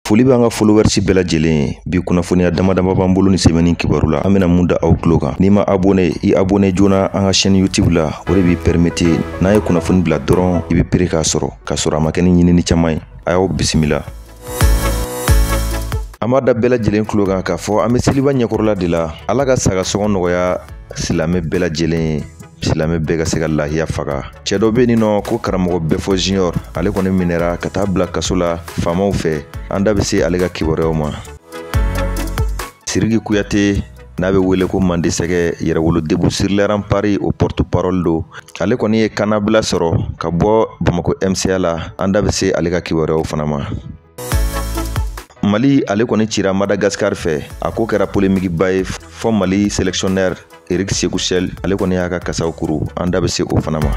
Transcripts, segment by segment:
Foli bɛ an ka followers bɛɛ lajɛlen ye bi kunnafoniya dama dama b'an bolo nin semaine in kibaru la an bɛna mun da aw tulo kan n'i ma abonné i abonné joona an ka chaîne YouTube la o de b'i permettre n'an ye kunnafoni bila dɔrɔn i bɛ prêt k'a sɔrɔ k'a sɔrɔ a ma kɛ ni ɲinini caman ye a y'aw bisimila an b'a da bɛɛ lajɛlen tulo kan k'a fɔ an bɛ seliba ɲɛkɔrɔla de la ala ka saga sɔngɔ nɔgɔya silamɛ bɛɛ lajɛlen ye silamɛ bɛɛ ka se ka lahiya faga cɛ dɔ be nin nɔ ko karamɔgɔ bɛfɔ junior ale kɔni minɛra ka taa bila kaso la faamaw fɛ an da be se ale ka kibaruyaw ma siriki kuyate n'a be wele ko mande sɛgɛ yɛrɛwolo debout sur les remparts o porte parole do ale kɔni ye kannabila sɔrɔ ka bɔ bamako mca la an da be se ale ka kibaruyaw fana ma mali ale kɔni cira madagascar fɛ a ko kɛra polemikiba ye fɔ mali sélectionneur eric sékou chelle ale kɔni y'a ka kasaw kuru an da be se o fana ma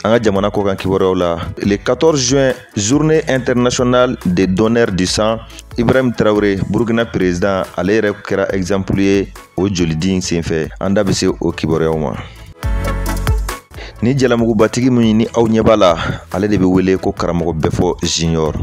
an ka jamana kɔkan kibaruyaw la le 14 juin journée internationale des donneurs du sang ibrahim traoré burkina président ale yɛrɛ kɛra exemple ye o jolidi in senfɛ an da be se o kibaruyaw ma ni jalamugubatigi min ni aw ɲɛ b'a la ale de bɛ wele ko karamɔgɔ bɛfɔ junior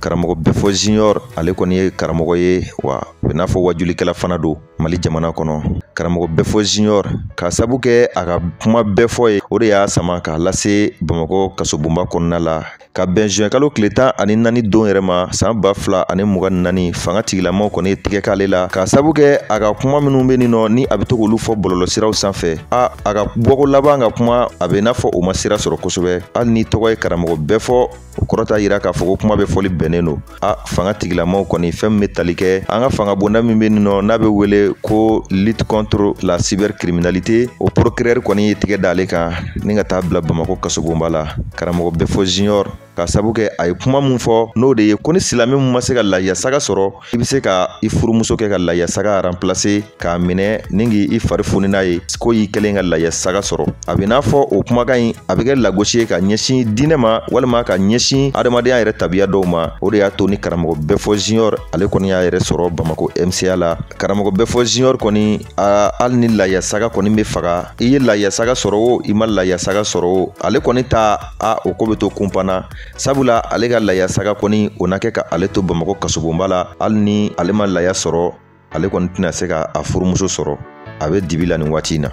karamɔgɔ bɛfɔ junior ale kɔni ye karamɔgɔ ye wa o bɛ n'a fɔ wajulikɛla fana don mali jamana kɔnɔ karamɔgɔ bɛfɔ junior k'a sabu kɛ a ka kuma bɛɛ fɔ ye o de y'a sama k'a lase bamakɔ kasobonba kɔnɔna la ka bɛn zuwɛn kalo kile tan ani naani don yɛrɛ ma san ba fila ani mugan ni naani fanga tigilamaw kɔni ye tigɛ k'ale la k'a sabu kɛ a ka kuma minnu bɛ nin nɔ ni a bɛ to k'olu fɔ bɔlɔlɔsiraw sanfɛ a a ka bɔko laban ka kuma a bɛ n'a fɔ o ma sira sɔrɔ kosɛbɛ hali n'i tɔgɔ ye karamɔgɔ bɛfɔ o kɔrɔ t'a yira k'a fɔ ko kuma bɛɛ fɔli bɛnnen don a fanga tigilamaw kɔni fɛn min bɛ tali kɛ an ka fanga bonda min bɛ nin nɔ n'a bɛ wele ko lutte contre la cybercriminalité o procureur kɔni ye tigɛ d'ale kan ni ka taa bila bamakɔ kasobonba la karamɔgɔ bɛfɔ junior k'a sabu kɛ a ye kuma min fɔ n'o de ye ko ni silamɛ min ma se ka lahiya saga sɔrɔ i bɛ se ka i furumuso kɛ ka lahiya saga remplacer k'a minɛ ni k'i fari foni n'a ye ko y'i kɛlen ka lahiya saga sɔrɔ a bɛ n'a fɔ o kumakan in a bɛ kɛ lagosi ye ka ɲɛsin diinɛ ma walima ka ɲɛsin adamadenya yɛrɛ tabiya dɔw ma o de y'a to ni karamɔgɔ bɛfɔ junior ale kɔni y'a yɛrɛ sɔrɔ bamako mca la karamɔgɔ bɛfɔ junior kɔni a hali ni lahiya saga kɔni bɛ faga i ye lahiya saga sɔrɔ o i ma lahiya saga sɔrɔ o ale kɔni ta a o ko bɛ to kunpan na sabula ale ka lahiya saga kɔni o na kɛ ka ale to bamako kasobonba la hali ni ale ma lahiya sɔrɔ ale kɔni tɛna se ka a furumuso sɔrɔ a bɛ dibi la nin waati in na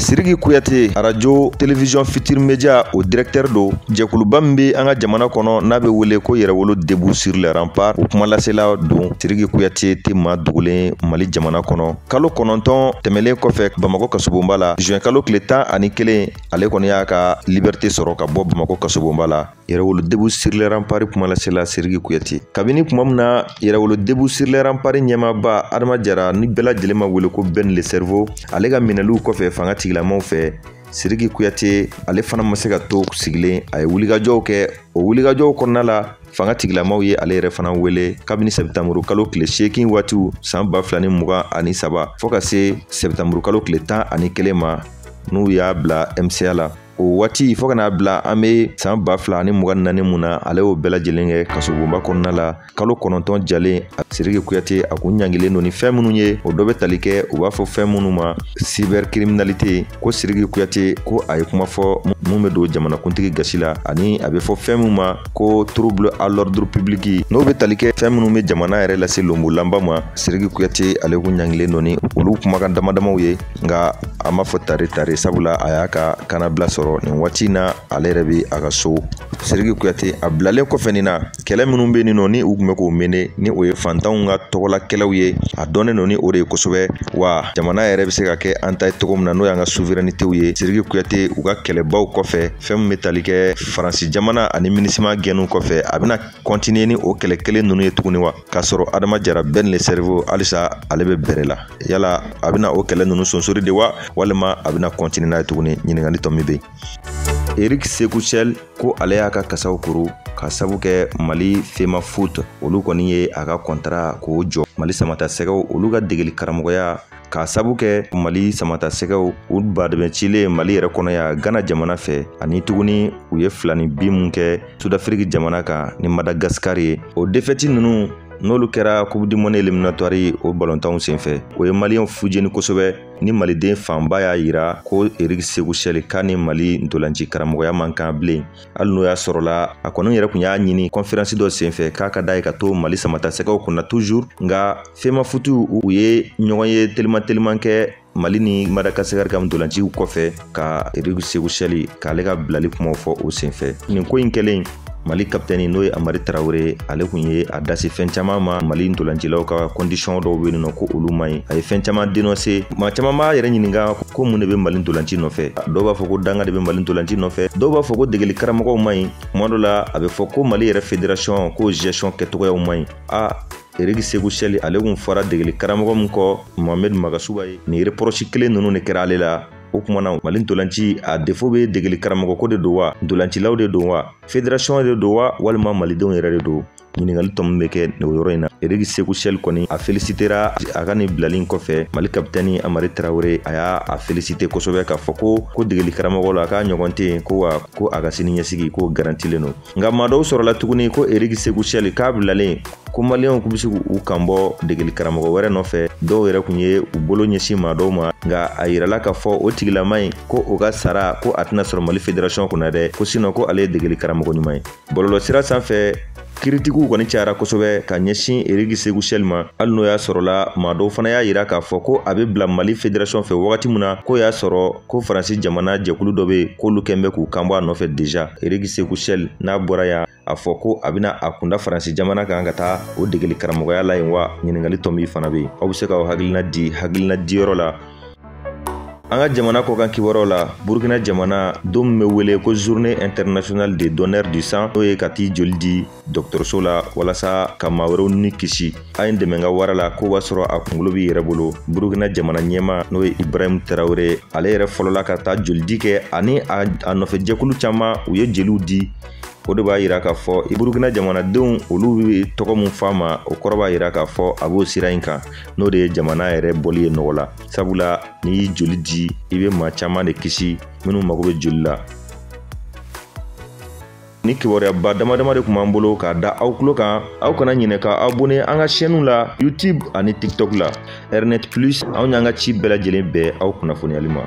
siriki kuyate arajo television futur media o directeur do jɛkuluba min be an ka jamana kɔnɔ n'a be wele ko yɛrɛwolo debout sur les remparts o kumalasela don siriki kuyate tɛ maa dogolen mali jamana kɔnɔ kalo kɔnɔntɔn tɛmɛlen kɔfɛ bamakɔ kasobonba la juin kalo kile tan ani kelen ale kɔni y'a ka liberté sɔrɔ ka bɔ bamakɔ kasobonba la yɛrɛwolo debout sur les remparts kumalasela siriki kuyate kabini kuma min na yɛrɛwolo debout sur les remparts ɲɛmaaba adama jara ni bɛɛ lajɛlen b'a wele ko ben le cerveau ale ka minɛliw kɔfɛ fanga tigilamaw fɛ siriki kuyate ale fana ma se ka to sigilen a ye wulikajɔw kɛ o wulikajɔw kɔnɔna la fanga tigilamaw ye ale yɛrɛ fana wele kabini sɛbitanburu kalo tile seegin waatiw san ba fila ni mugan ani saba fɔ ka se sɛbitanburu kalo tile tan ani kelen ma n'u y'a bila mca la o waati fo ka n'a bila an bɛ san ba fila ani mugan ni naani mun na ale y'o bɛɛ lajɛlen kɛ kasobonba kɔnɔna la kalo kɔnɔntɔn jalen siriki kuyate a kun ɲangilen don ni fɛn minnu ye o dɔ bɛ tali kɛ u b'a fɔ fɛn minnu ma cybercriminalité ko siriki kuyate ko a ye kuma fɔ mun bɛ don jamanakuntigi gasi la ani a bɛ fɔ fɛn min ma ko trouble à l'ordre public n'o bɛ tali kɛ fɛn minnu bɛ jamana yɛrɛ lase lonbolanba ma siriki kuyate ale kun ɲangilen don ni olu kumakan damadamaw ye nka an b'a fɔ tare tare sabula a y'a ka kannabila sɔrɔ nin waati in na ale yɛrɛ bɛ a ka so siriki kuyate a bilalen kɔfɛ nin na kɛlɛ minnu bɛ nin nɔ ni u tun bɛ k'o mener ni o ye fantanw ka tɔgɔla kɛlɛw ye a dɔnnen don ni o de ye kosɛbɛ wa jamana yɛrɛ bɛ se ka kɛ an ta ye cogo min na n'o y'an ka suverɛnitew ye siriki kuyate u ka kɛlɛbaw kɔfɛ fɛn min bɛ tali kɛ faransi jamana ani minusma gɛnniw kɔfɛ a bɛna kɔntiniye ni o kɛlɛ kelen ninnu ye tuguni wa k'a sɔrɔ adama jara ben le cerveau halisa ale be bɛrɛ la yala a bena o kɛlɛ nunu sonsori de wa walima a bena kɔntini n'a ye tuguni ɲiningali tɔ min be yen eric sékou chelle ko ale y'a ka kasaw kuru k'a sabu kɛ mali femafoot olu kɔni ye a ka kɔntara k'o jɔ mali samatasɛgɛw olu ka degeli karamɔgɔya k'a sabu kɛ mali samatasɛgɛw u badɛmɛ cilen mali yɛrɛ kɔnɔ yan gana jamana fɛ ani tuguni u ye filaninbin min kɛ sudafiriki jamana kan ni madagasikari ye o defɛti nunu n'olu kɛra coupe du monde éliminatoire o balontanw senfɛ o ye maliyɛnw fujeni kosɛbɛ ni maliden fanba y'a yira ko eric sékou chelle k'a ni mali ntolanci karamɔgɔya man kan bilen hali n'o y'a sɔrɔla a kɔni yɛrɛ kun y'a ɲini kɔnferansi dɔ senfɛ k'a ka da ye ka to mali samatasɛgɛw kunna toujours nka femafoot u ye ɲɔgɔnye teliman teliman kɛ mali ni madagasikari ka ntolanciw kɔfɛ ka eric sékou chelle k'ale ka bilali kumaw fɔ o senfɛ nin ko in kɛlen mali kapitɛni n'o ye amari tarawure ale kun ye a da se fɛn caman ma mali ntolancilaw ka kɔndisɔn dɔw be yen nɔ ko olu man ɲi a ye fɛn caman dénoncer maa caman b'a yɛrɛ ɲininga ko mun de be mali ntolanci nɔfɛ dɔw b'a fɔ ko danga de be mali ntolanci nɔfɛ dɔw b'a fɔ ko degeli karamɔgɔw man ɲi kuma dɔ la a be fɔ ko mali yɛrɛ federasɔn ko gestion kɛcogoyaw man ɲi a eric sékou chelle ale kun fɔra degeli karamɔgɔ min kɔ mohamɛd magasuba ye nin repɔrɔsi kelen nunu de kɛra ale la o kuma na mali ntolanci a defo be degeli karamɔgɔ ko de don wa ntolancilaw de don wa federasɔn de don wa walima malidenw yɛrɛ de don ɲininkali tomi bɛ kɛ o yɔrɔ in na eriki seku sɛli kɔni a felisitera a ka nin bilali in kɔfɛ mali kapitɛni amari tarawele a y'a a felisite kosɛbɛ k'a fɔ ko ko degeli karamɔgɔ la k'a ɲɔgɔn tɛ yen ko wa ko a ka sini ɲɛsigi k'o garantilen don nka maa dɔw sɔrɔla tuguni ko eriki seku sɛli k'a bilalen ko maliyɛnw kun bɛ se k'u kan bɔ degeli karamɔgɔ wɛrɛ nɔfɛ dɔw yɛrɛ kun ye u bolo ɲɛsin maa dɔw ma nka a yirala k'a fɔ o tigilama in ko o ka sara ko a tɛna sɔrɔ mali federasɔn kunna dɛ ko sinɔ ko ale ye degeli karamɔgɔ ɲuman ye bɔlɔlɔsira sanfɛ kiritikiw kɔni cayara kosɛbɛ ka ɲɛsin eriki seku sɛli ma hali n'o y'a sɔrɔla maa dɔw fana y'a yira k'a fɔ ko a be bila mali federasɔn fɛ wagati min na k'o y'a sɔrɔ ko faransi jamana jɛkulu dɔ be yen k'olu kun bɛ k'u kanbɔ a nɔfɛ deja eriki seku sɛli n'a bɔra yan a fɔ ko a bɛna a kunda faransi jamana kan ka taa o degeli karamɔgɔya la yen wa ɲininkali tomi fana bɛ yen aw bɛ se ka aw hakilina di hakilina diyɔrɔ la an ka jamana kɔkan kibaruyaw la burkina jamana don min bɛ wele ko journée internationale de donneur du sang n'o ye ka t'i joli di dɔgɔtɔrɔso la walasa ka maa wɛrɛw ni kisi a ye n dɛmɛ n ka wara la k'o b'a sɔrɔ a kunkolo b'i yɛrɛ bolo burkina jamana ɲɛmaa n'o ye ibrahim tarawele ale yɛrɛ fɔlɔla ka taa jolidi kɛ ani a nɔfɛ jɛkulu caman u ye jeliw di o de b'a yira k'a fɔ i burukina jamanadenw olu bɛ tɔgɔ min f'a ma o kɔrɔ b'a yira k'a fɔ a b'o sira in kan n'o de ye jamana yɛrɛ bɔli ye nɔgɔ la sabula n'i y'i joli di i bɛ maa caman de kisi minnu mago bɛ joli la nin kibaruyaba damadama de kun b'an bolo k'a da aw tulo kan aw kana ɲinɛ ka abone an ka sɛniw la youtube ani tiktok la rnet plus anw y'an ka ci bɛɛ lajɛlen bɛn aw kunnafoniyali ma